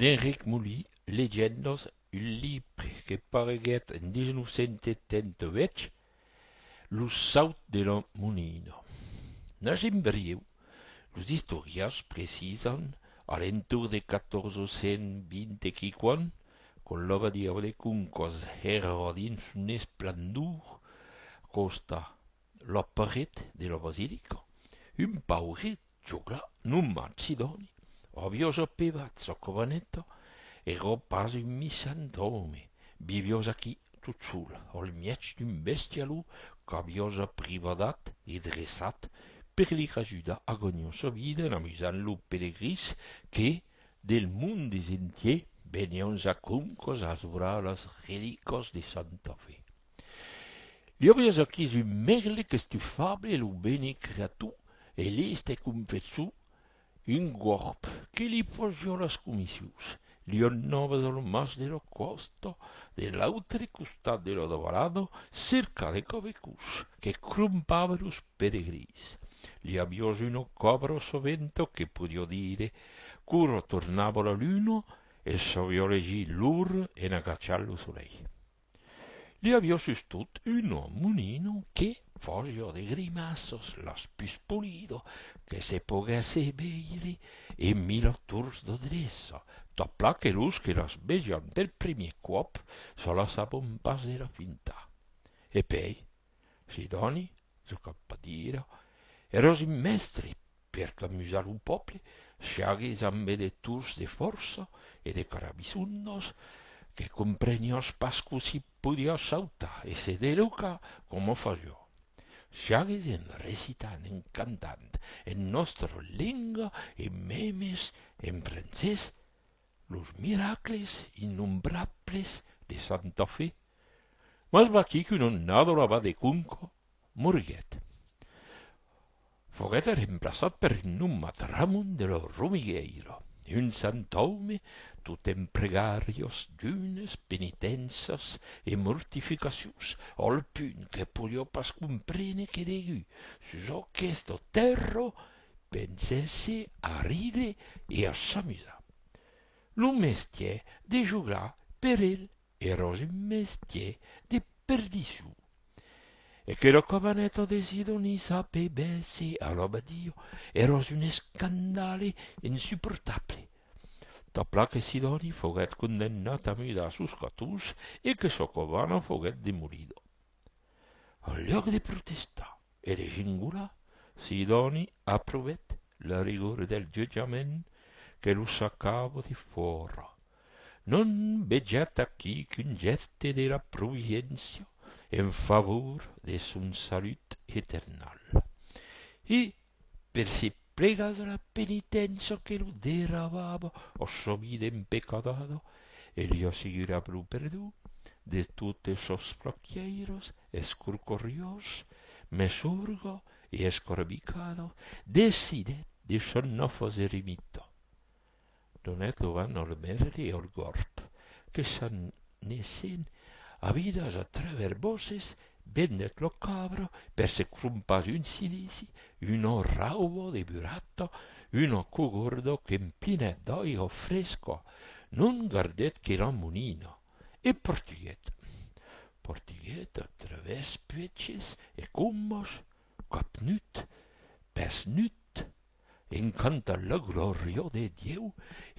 D'Enric Moli, Legendas, un libre que pareguèt en 1978, Lo saut de la monina. N'agim brieu, los istorians precisan a l'entorn de 1420 e quiquan, quand l'abadi a Valecuncas èra dins son esplendor a còsta la paret de la basilica, un pauret Chugla, numa Cidoni, rabiosa pevazza covaneta, ero pas un missant òme, viviós aquí, tot sol, al mièg d'un bestialó qu'aviós aprivadat e dreçat per li rajudar a ganhar sa vida en amusant los pelegrins que, del mond desentier, venián ja com cosas vralas relicas de Santa Fe. Li aviás aquís un mègle qu'estufable e lo bene creator e l'èste confessor un gorp que li fasiá las comissions. Li anavas a lo mas de la còsta de l'autre costat de la davalada cercar de cavecòs que crompavan los peregrins. Li aviás una cabra a sa venta que podiá dire qu'ora tornava la luna e sabiá legir l'ora en agachar lo solelh. Li avió sustot un monino que fasió de grimaços los pus polido que se poguèsse veire e mila tors d'adreça, tot plan que los que las vejan per primier còp se las sabon pas de la fintar. E pei, Sidòni, çò qu'a pas dire, eros un mèstre per qu'amusar lo pòble, siagues amb electors de fòrça e de carabisonnos que compreniás pas cossí podiás sautar e se delucar coma fas jo, siagues en recitant, en cantant en nòstra lenga e memes en francés, Los miracles innombrables de Santa Fe, mas vaquí qu'un onnador abat de Cunco moriguèt. Foguèt remplaçat per un nomat Ramon de lo Romigueiro, un sant òme tot en pregarios, junes, penitèncias e mortificacions, al punt que podió pas comprene que degut sus aqueth tèrro Pensèsse a ride e a s'amusar. Lo mestier de jogar per el èra un mestier de perdiçon. E que lo cabaneta de Sidoni sapebèsse alabar Diu èra un escandale insuportable. Tanpla que Sidoni foguèt condemnat a mudar sus Catus e que sa cabana foguèt demolida. Au lhòc de protestar e de gingolar, Sidòni aprovèt la rigor del jutjament que lo sacava de fòra. Non vejat aquí qu'un gèste de la providéncia en favor de son salut eternal. E Per se plegar a la penitencia que lo derrabava o sa vida empecadada, e li assegurava lo perdon de totes sos flaquièiros, escorcoriós, mesorga e escarbicada, decidèt de s'anar fas eremita. Donèc lo van al mèrli e al gòrb, que s'anèssen a vidas a trèver bòsses, vendèc lo cabra per se crompar un cilici, una rauba de burata, una cogorda qu'emplinèt d'aiga fresca, non gardèt que la monina, e partiguèt. Partiguèt a travèrs puèches e combas, cap nut, pès nut, En canta la glòria de Dieu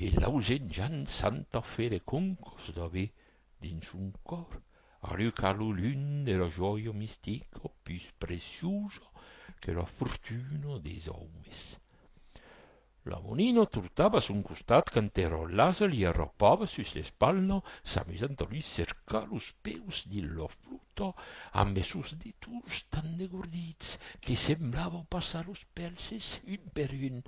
e l'ausenjan santa fe de concos d'aver dins son còr alucat lo lum de la jòia mistica pus preciusa que la fortuna des aumes. La monina tortava son costat quand era lasa li arrapava sus l'espalha s'amusant a lui cercar los peus dins la flor. Tò, ambe sos ditons tan degordits que semblava passar los pèlses un per un,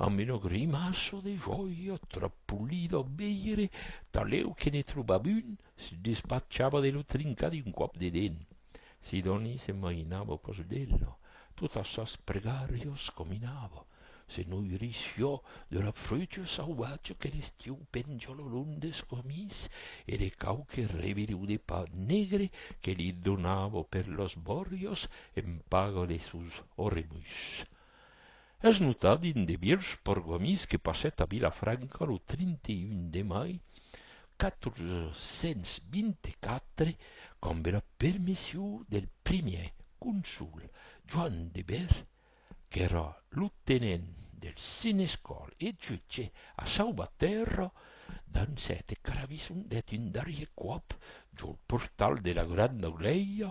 amb una grimaça de jòia tròp polida a veire, talèu que ne trobava un, se despachava de lo trincar d'un còp de dent. Sidòni se mainava còs d'ela, totas sas pregàrias caminava. Se noirissió de la frucha sauvatja que l'estiu penja lo long des camins e de quauque revireu de pa negre que li donava per los bòrios en paga de sos orremuis. Es notat un de vièlhs pergamins que passèt a Vilafranca lo 31 de mai 424 qu'ambe la permission del primièr consol Joan de Bèth qu'èra lo tenent del senescal e jutge a Sauvatèrra, dens sète carabisson deth un darrier còp jol portal de la granda glèia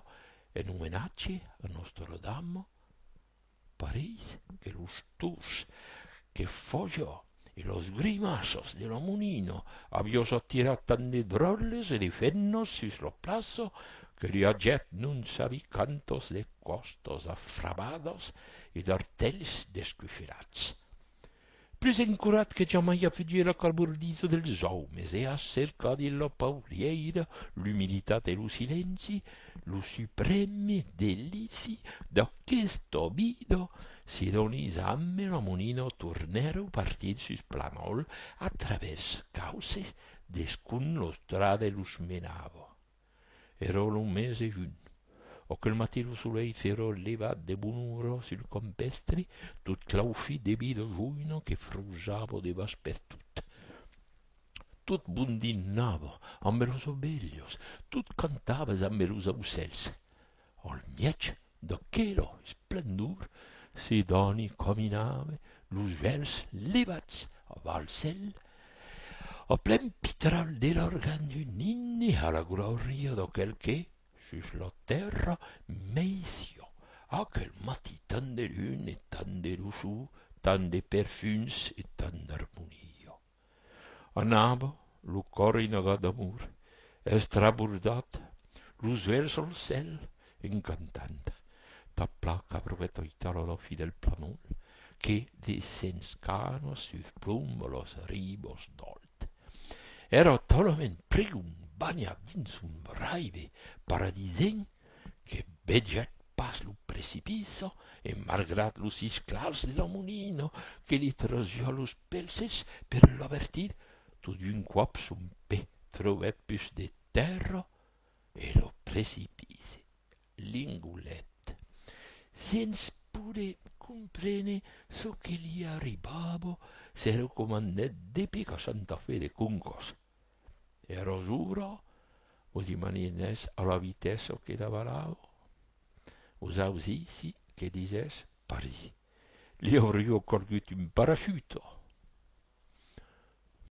en omenatge a Nòstra Dama, pareis que los dos que fòja e los grimaços de lo monino aviós atirat tant de dròlles e de fennos sus lo plaço que li agèt non sabi quantos de còstos afrabados e d'artelhs descufelats. Plus encurat que jamai a fugir la calbordissa dels òmes e a cercar dins la paulièira l'umilitat e lo silenci lo suprème delici d'aquesta vida Sidoni, Zam e Lamonino tornèron partir sus Planòl a travèrs cauces descun los drade los menava. Èró lo mes de junh. Oquel matin lo solei s'èró levat de bona ora sul campèstri, tot claufit de vida joina que frausava de bas pertot. Tot bondinava ambe los ovelhos, tot cantava zambe los aucèls. Al mièg d'aquela esplendor se dani caminave los vèls levats a val cèl, a plen pitral de l'argent d'un himne a la glòria d'aquel que, sus la tèrra, meissiá aquel matí tant de luna e tant de luçor, tant de perfums e tant d'armonia. Anava lo còr einagat d'amor, estrabordat, los uelhs al cèl, en cantant Ta placa brevèt aital a la fi del planòl que descens canas sus ploma las ribas d'Alt. Èra talament pregon banhat dins son raive paradisenc que vegèc pas lo precipiço e malgrat los isclats de la monina que li trosiá los pelses per l'avertir, tot d'un còp son pè trobèt pus de tèrra e lo precipici l'engolèt sens poder comprene çò que li arribava, se recomandèt de picar Santa Fe de Concòs e rosura o dimani n'es a la vitessa que davalavo os ausissi que disès Paris li aurio corgut un parachute.